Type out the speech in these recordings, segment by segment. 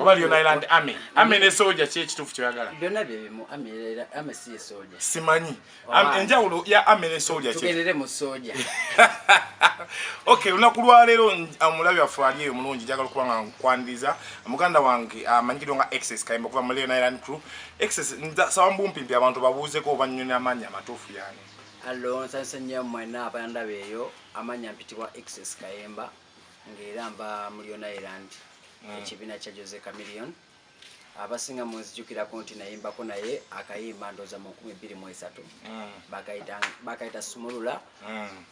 oba lyona iland ame ame ne soja ki ekituufu kyoyagala byona byebimu ame si ye soja simanyi enjawulo ya ame ne soja tugendere mu soja ok olunaku lwaleero omulabi waffe ali eyo mulungi njagala okuba nga nkwaniriza muganda wange amanyikidwa nga excess kayimba okuva mu leon iland crew excess nsaba mbumpimpi abantu babuuzeko oba nnyoni amaanyi amatuufu yani allo nsansenyo mwena abandaba eyo amanya mpitibwa excess kayemba ng'era mba mu lyon island mm. ekibiina kya jose camilion abasinga munzijukirako nti nayimbako naye akayimba ndoza mu nkumi bbiri mu esatu mm. bakayita sumulula mm.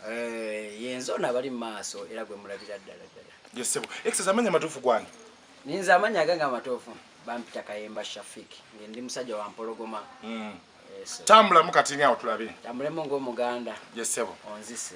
eh, yenze ono abali mu maaso era gwe mulabira ddala ddala yesebo exes amanya amatuufu gwange ninze amanya agange amatuufu bampita kayemba shafik nge ndi musajja wa mpologoma mm. tambulamu kati ngaawo tulabe tambulemu ngaomuganda yesebo onzise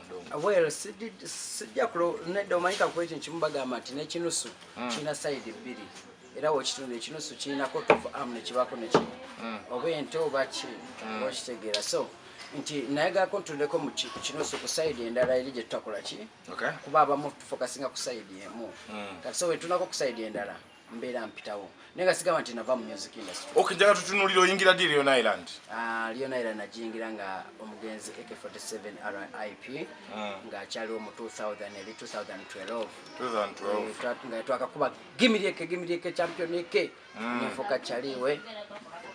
well sijja nedda omanyika kuba ekyo nkimu bagamba nti nekinusu mm. kirina sayidi bbiri era wekitundu ekinusu kirinako tova am nekibaako neki mm. oba ente oba ki mm. okitegeera so nti nayagako ntundeko mu kinusu ku sayidi endala eri gyetutakola ki kuba abamu tufokasinga ku sayidi emu kati so wetunako ku sayidi endala mbeera mpitawo naye nga sigamba nti nava mu music industry ok njaga tutunulira oyingira di leon island ah, leon island nagiyingira nga omugenzi ak 47 rip hmm. ngaakyaliwo mu 2000 eri 2012 eh, nga twakakuba gimirieke gimirieke championike hmm. nenfuka kyaliwe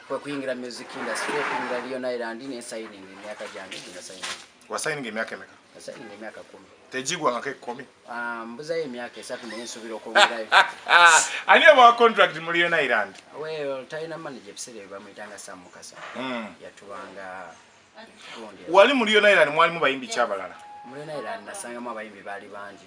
kwekuyingira music industry okuyingira leon island nesayining emyaka gyange ginasayining wasayining emyaka emeka Nasalinga emyaka kumi. Tejigwa ngako ekumi. Ah, mbuzayo emyaka esatu naye nsubira okwongerayo. Ani abawa contract mu Leon Island? Well, talina manager ebiseera bye bamuyitanga Sam Mukasa. Mm. Yatubanga wali mu Leon Island mwalimu bayimbi ki abalala? Mu Leon Island nasangamu abayimbi baali bangi.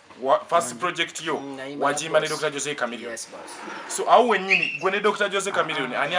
first project yo mm, wajimba ne Dr. Jose Chameleon yes, so awo wenyini gwe ne Dr. Jose Chameleon ani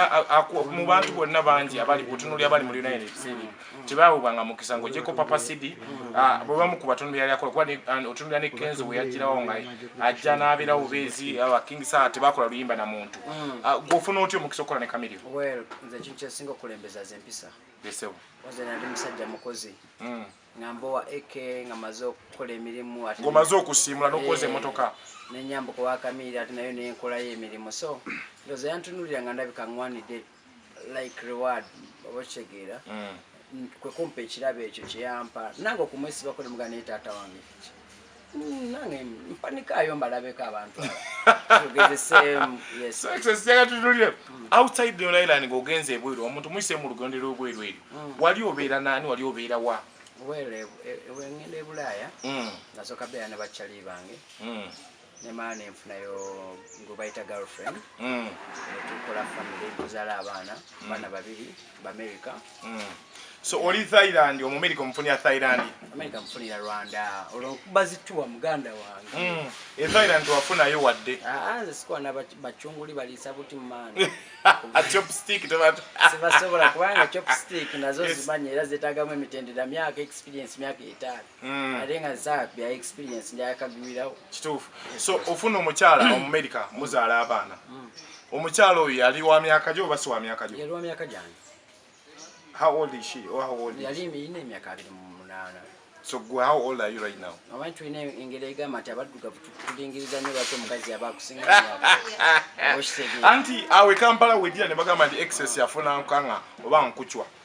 mu bantu bonna bangi abali kutunuli abali mu United States mm, mm. tibawo banga mukisa ngo jeko papa CD ah, bwe bamu ku batunuli yali akola kwani otunuli ne Kenzo bwe yajira wo ngai ajja na abira ubezi aba King Sa tibakola luyimba na muntu ah, go funa otyo mukisa okola ne Chameleon well nze chinche singo kulembeza zempisa besewo oze na ndi musajja mukozi mm. nga mbowa eke nga maze okukola emirimu ngomaze okusiimula nokuwoza eh, emotoka nenyambuka wakamiira ati nayo nenkolayo emirimu so ndoza yantunulira nga ndabika ngwanidde like reward oba okitegeera mm. kwekumpa ekirabo ekyo kyeyampa nange okumwesibako nemuga naye taata wange kiki Mm, nange mpanikaayo mbalabeko abantu sijjaga tutulire mm. outside your island ngaogenza ebweru omuntu muyise mu lugendo lwobweru eryo mm. wali obeera naani wali obeera wa wengenda ebulaaya nasooka beera ne bakyali bange nemaana enfunayo gwebayita girlfriend netukola family tuzala abaana baana babiri America. Mm. So oli Thailand omumerika omufunira Thailand. America mfunira Rwanda. Olwokuba zituwa muganda wange. Mm. E Thailand tuwafunayo wadde. Ah, nze sikuwa na bachunguli balisa buti mumana. A chopstick tomato. Sibasobola kubanga chopstick nazo zimanya era zetagamu emitendera myaka experience myaka etaano. Mm. ate nga za bya experience njakagwirawo kituufu so ofuna omukyala omumerica mm. muzaala abaana mm. omukyala oyo yali wa myaka gyo oba si wa myaka gyo yali wa myaka gyange how old is she or how old yali ine emyaka abiri mu munaana so gwe how old are you right now amanyi tulina engeri egamba nti abaddugavu tulingiriza nyo lwaki omukazi yaba akusinga anti awe kampala wedira ne bagamba nti excess yafuna nkanga oba nkucwa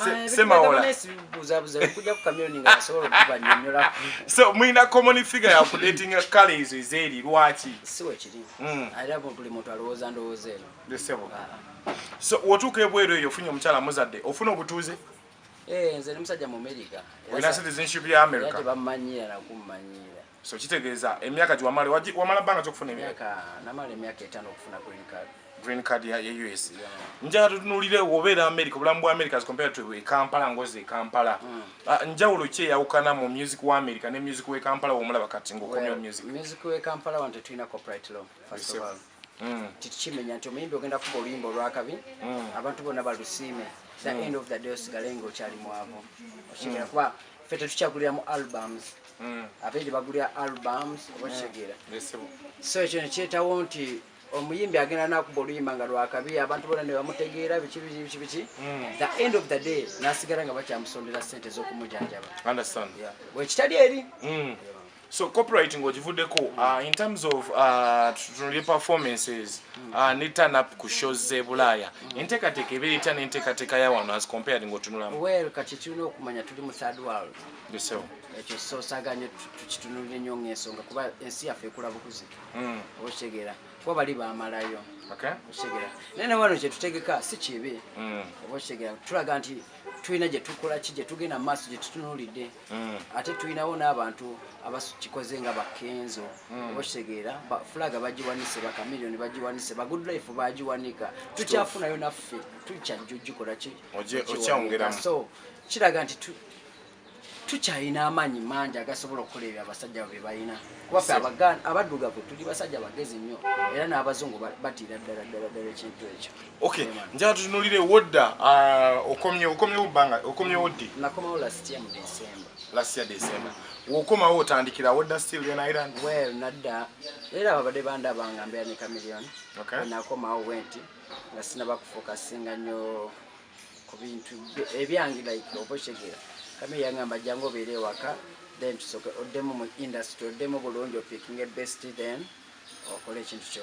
Ah, so mulina common figure ya kudatinga kala ezo ezeeri lwaki hmm. so wotuuka ebweru eyo ofunye omukyala muzadde ofuna obutuuze eh, nze ne musajja mu amerika olina citizenship ya amerika tebamanyiira nakumanyiira So kitegeeza emyaka gye wamala wamala bbanga ki okufuna emyaka? Namala emyaka etaano okufuna green card. Green card ya US. Njagala tutunuulire obeera Amerika, obulamu bwa Amerika as compared to e Kampala ngozi e Kampala. Hmm. Ah, njawulo ki eyawukana mu music wa Amerika ne music w'e Kampala w'omulaba kati ng'okomyewo music? Music w'e Kampala wano tetulina copyright law first of all. mm. tikimenya nti omuyimbi ogenda kuba oluyimba olwakabi mm. abantu bona balusiime the mm. end of the day osigale nga okyali mwavu okitegeera kuba fe tetukyagulira mu albums abeeri bagulira albums oba okitegeera so ekyo nekyetawo nti omuyimbi agenda nakuba oluyimba nga lwakabi abantu bona nebamutegeera biki biki biki biki the end of the day nasigala nga bakyamusondera sente ezokumujanjaba wekitali eri So copyright ngo jivude ko mm. uh, in terms of uh, tunuli performances mm. uh, ni turn up ku shows ze bulaya mm. inteka teke be itana inteka teka ya wano as compared ngo tunula well kati tuno kumanya tuli mu third world yes sir ekyo so saganye tukitunulire nyo ngeso nga kuba ensi yafe kula bukuzi mm. oshegera kuba bali ba malayo okay oshegera nene wano je tutegeka si kibe mm. oshegera tulaga nti tuina je tukola kije tugena mass je tutunulide mm. ate tulinawo n'abantu abakikoze nga bakenzo mm. okitegeera fulaga bagiwanise bakamiliyoni bagiwanise bagood life bagiwanika tukyafunayo naffe tukyajja ogikolaki so kiraga nti tukyalina amaanyi mangi agasobola okukola ebyo abasajja bwe balina kuba fe abaddugavu tuli basajja bagezi nnyo era n'abazungu batiira ddala ddala ddala ekintu ekyo Okay, njaa tutunulire wodda uh, okomye okomye ubanga okomye wodi. Nakomawo last year mu December. Last year December. Wokomawo otandikira wodda still in Ireland. Well, nadda era babade banda banga mbya ni chameleon. Okay. Nakomawo wenti nga sina bakufoka singa nyo ku bintu ebyangi like oboshegera. Kame yangamba jango bere waka then tusoke odemo mu industry odemo bulungi picking a best then okole chintu chyo.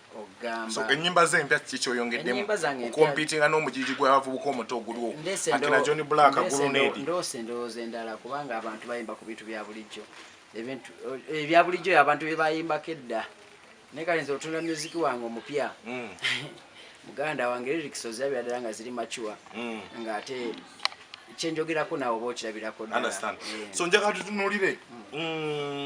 so enyimba ze empya kiki kyoyongeddemu kukompitinga n'omujiji gw'abavubuka omuto ogulwo akina john black gulunedi ndoosa endowooza endala kubanga abantu bayimba ku bintu bya bulijjo ebintu ebya eh, bulijjo abantu bye bayimbako edda naye kale nze otunda muziki wange omupya mm. muganda wange lyrics ozirabira ddala nga ziri macuwa mm. ng'ate kyenjogerako naawe oba okirabirako eh. so njagala tutunulire mm.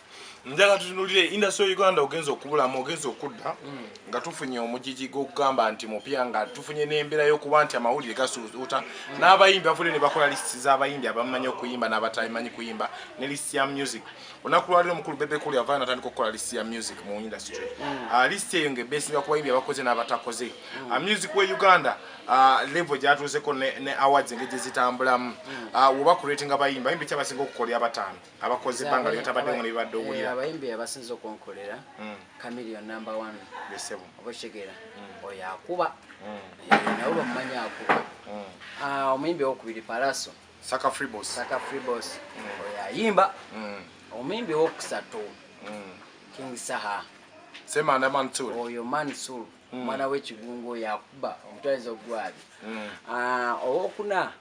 njala tutunulire industry ya uganda ogenza okubulamu ogenza okudda mm. nga tufunye omujiji gwokugamba nti mupya nga tufunye n'embeera y'okuba nti amawulire gasuuta mm. n'abayimbi bavule ne bakola lisiti z'abayimbi abamanyi okuyimba n'abatamanyi kuyimba ne lisiti ya music olunaku lwaliro omukulu bebekuli avaa natandika okukola lisiti ya music mu industry mm. ah, lisiti eyo ngaebesinga ku bayimbi abakoze n'abatakoze ah, music wa uganda ah, level gyatuuzeko ne awards engeri gye zitambulamu woba kuretinga bayimbi bayimbi kyabasinga okukolya abataano abakoze banga lyo tabadde mu bibadde owulira eh, abayimbi abasinze okonkolera mm. chameleon number 1 besebo oboshegera mm. oya akuba mm. eh, nawo bamanya akuba ah omuyimbi okubiri palaso saka free boss saka free boss oya yimba omuyimbi okusatu king saha sema na mantur oyo mantur mwana we kigungo yakuba omutwalizo gwali ah owokuna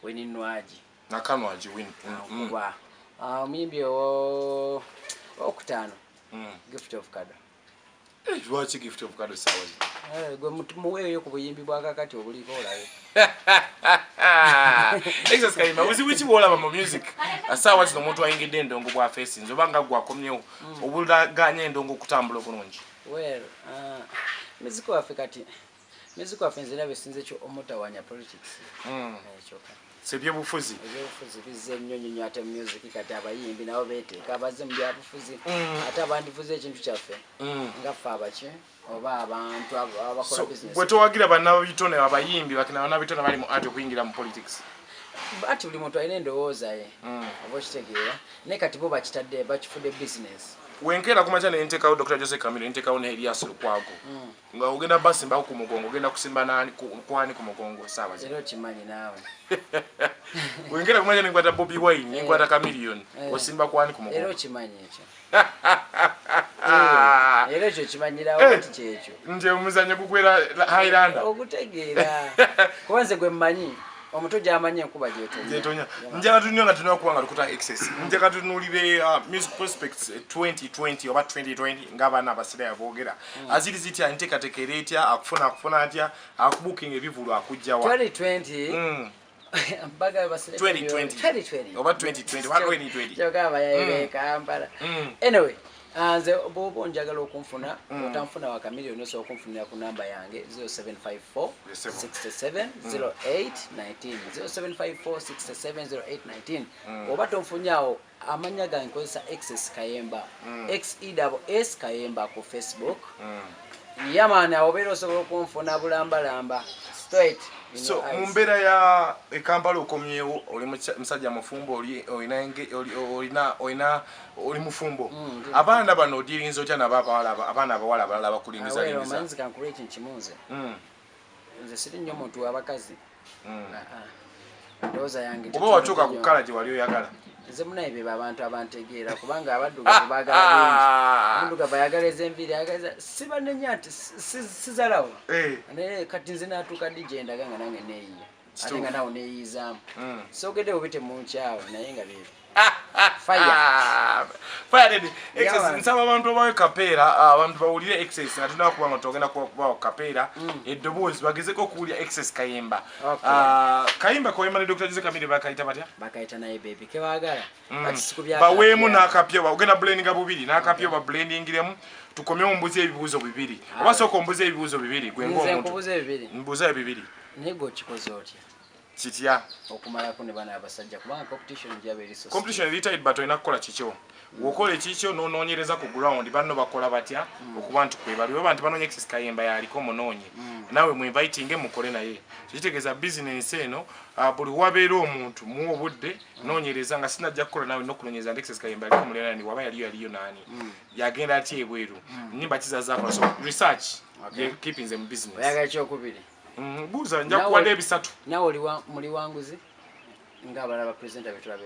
weninwaji nakano agiwin mm, mm. kuba ah, omuyimbi owo okutaano mm. gift of kado eh, lwaki gift of kado sawazi eh, gwe muweeyo ku buyimbi bwakakati obuliko olabe exas kayima buzibu ki bwolaba mu music asaawa zino omuntu ayingidde endongo bwa fesinzi oba nga gwakomyewo obulaganya endongo okutambula obulungi well uh, muziki waffe kati Music of nze labe sinze kyo omutawanya politics. Mm. Ekyoka. Eh, sebyebufuzi ebyebufuzi bizze ennyo nnyo ate music kati abayimbi nabo beeteeka abazze mu byabufuzi mm. ate abandifuza ekintu kyaffe mm. nga ffe abaki oba abantu abakola business bwe towagira bannabitone abayimbi bakina bannabitone bali mu ati okuyingira mu politics ati buli muntu alina endowooza ye mm. oba okitegeera naye kati bo bakitadde bakifudde business wenkeera kumakya nentekawo dr jose camilo nentekawo ne elias lukwago mm. nga ogenda basimbako ku mugongo ogenda kusimba nani kwani ku mugongo sawa zero kimanyi nawe wengera kumanya ni ngwata bobi wine ni ngwata eh. chameleon eh. osimba kwani ku mugongo zero kimanyi echo era ekyo kimanyirawo eh. nti kyekyo nti omuzanyo gugwera highlander ogutegeera kuba nze gwe mmanyi omuto gyamanyi enkuba gyetonya njaga tunywa nga tunakuba nga tukuta excess njaga tunulire uh, music prospects 2020 eh, oba 2020 ng'abaana abasirayo boogera hmm. aziri zitya enteekateeka era etya akufuna akufuna atya akubukinga ebivulu akujjawa 2020 hmm. oba 2020 Ah, nze bwoba onjagala okunfuna mm. otanfuna wakamiliyoni osobola okunfunira ku namba yange 0754670819 0754670819 mm. oba tonfunyawo amanya gange nkozesa xs kayemba mm. xews kayemba ku facebook mm. yamaani awobeera osobola okunfuna bulambalamba straight so mu mbeera ya ekampala okomyewo oli musajja mufumbo olina oli mufumbo mm, abaana bano odyirinza otya nabo abaana abawala abalala abakulingizalinzikankula ekintu kimunze nze siri nnyo muntu wabakazi hmm. ndowooza yange oba watuuka ku kala gye wali oyagala nze munaye bebo abantu abantegeera kubanga abaddugavu bagalamundugavu ayagala ezenviiri ayagala si banenya nti sizalawo eh. naye kati nze natuuka di gyendaga nga nange neyiya ate nga nawe neyiizamu hmm. sogede obe temunkyawo naye nga bebe nsaba abantu obawe kapeera ah, abantu bawulire excess nga tulina kuba nga togenda kubawa kapeera hmm. eddoboozi bagezeko okuwulira excess kayimba ah, kayimba kawemba ne dr jose kamire bakayita batya bakayita naye bebi kebagala mm. baweemu n'akapya ogenda blendinga bubiri n'akapya oba blendingiremu tukomye ombuza ebibuuzo bibiri ah. oba sooka ombuza ebibuuzo bibiri gwe ngaomuntu mbuuza ebibiri naye gwe okikoze otya kitya okumalako ne bana abasajja kubanga competition gyaba eri competition eri tight but olina kukola kikyo wokola ekikyo nonoonyereza ku ground banno bakola batya mm. okuba nti kwebali oba nti banoonya exis kayemba yaliko munoonye mm. nawe mwinvitinge mukole naye kikitegeeza bizinensi eno ah, buli wabeera omuntu muwa obudde nonyereza nga sinajja kukola nawe nokunonyereza alexis kayemba aliko mulera nani waba yaliyo yaliyo nani mm. yagenda atya ebweru mm. nimba kizazakola so research okay. keeping them business oyaga ekyokubiri mm, buuza nja kuwada ebisatu nawe oli muli wanguzi nga abala ba presenter betulabe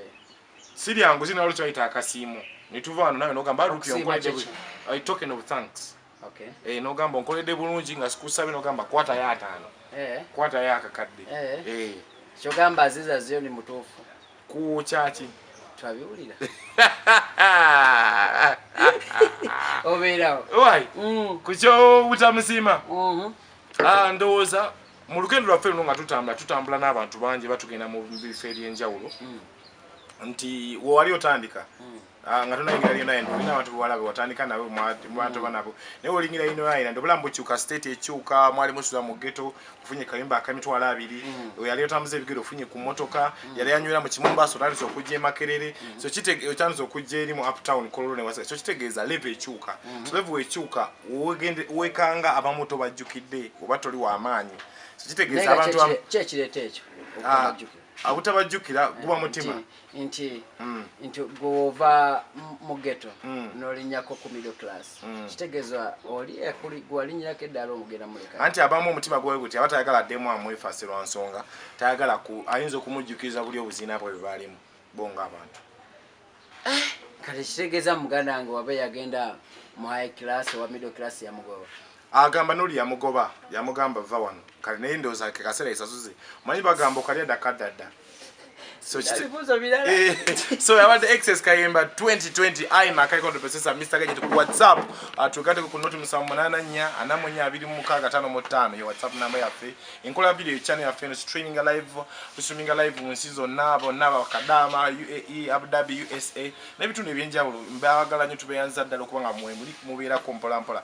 siryanguzi nawe lukyaita akasiimo netuva wano nawe nogamba rupi onkwajebwe i token of thanks Okay. Eh, nogamba onkoledde bulungi nga sikusabye nogamba kwata yo ataano. Eh. Kwata yo akakadde. Eh. Eh. Kyogamba Aziza Zioni mutuufu. Ku kyaki? Twabiwulira. Obeerawo. Why? Mm. Ku kyo butamusiima. Mhm. Mm ah, ndowooza mu lugendo lwaffe luno nga tutambula tutambula n'abantu bangi batugenda mu bifo eby'enjawulo. Mm. Nti wewali otandika. Mm. Ah, nga tonayingira lyona yendo olina abantu bewala bewatandika nabo mwatoba mm. nabo naye olingira yino yayina ndi obulamu bukyuka state ekyuka mwali musuza mu geto ofunye kayumba akamitwalo abiri mm. oyali otambuza ebigere ofunye ku motoka mm. yali anywera mu kimumbaso otandise okujja emakerere so otandise okujja eri mu uptown kololo ne wasaka so kitegeeza leve ekyuka so leve wekyuka wekanga abamu tobajjukidde oba toli wamaanyi so kitegeeza abantu kyekireeta ekyo ah, abutabajjukira guba mutima nti mm. nti gwova mu geto mm. nolinyako ku middle class mm. kitegezwa oli ekuli gwalinyirako eddala omugenda muleka anti abamu omutima gwawe guti aba tayagala addemu amwefase lwa nsonga tayagala ku ayinza okumujjukiriza buli obuzina bwe bwebalimu bo nga abantu eh, kale kitegeza muganda wange waba yagenda mu high class owa middle class yamugoba Agamba noli yamugoba yamugamba va wano kale naye ndoza ke kasera isasuze manyi bagamba okalya dakadada so kibuzo bilala eh, so i want the excess kayemba 2020 i makai kondo pesesa mr gaje ku whatsapp atukate ah, ku noti musamunana nya anamunya abiri mu kaga tano mo tano yo whatsapp namba ya fe inkola video channel ya fe no streaming live streaming live mu season nabo naba kadama uae abu dhabi usa na bitu ne byenjawulo mbagala nyo tubeyanza dalo kubanga mwemuli mubera kompola mpola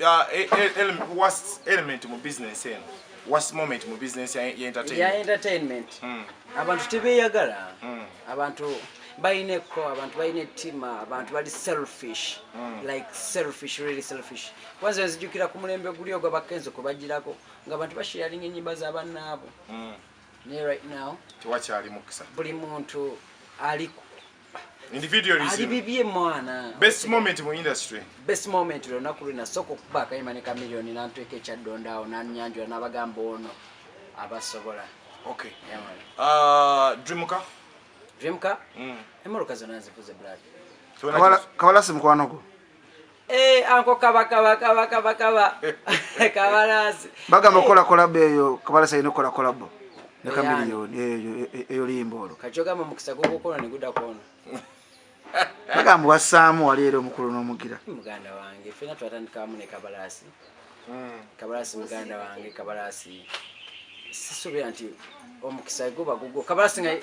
uh, e, e, ele, worst element mu business eno worst moment mu business ya entertainment ya entertainment mm. abantu tebeyagala mm. abantu bayina ekko abantu bayina ettima abantu bali selfish mm. like selfish really selfish kwanza nzijukira ku mulembe guli ogwa bakenzo kubagirako nga abantu basharinga enyimba za bannaabo mm. naye right now tewakyali mukisa buli muntu aliku individualism ali bibye mwana best moment mu industry best moment lona kulina soko kuba kayima ne chameleon na ntweke cha dondao na nyanjo na bagamba ono abasobola okay yeah, man. uh dreamka dreamka mm. emoro kazana zifuze blood kabala kabala simkwano ko Eh, anko kaba kaba kaba kaba kaba kabalazi bagamba eh. kola kola beyo kabala sayino kola kola bo ne kamilion eyo eh, eyo limbo olo kachoga mu mukisa gogo kono ne guda kono bagamba wasamu wali ero mukulu no mugira muganda wange fina twatandika amu ne kabalasi hmm. kabalasi muganda wange kabalasi sisubira nti omukisa goba gogo kabalasi ngai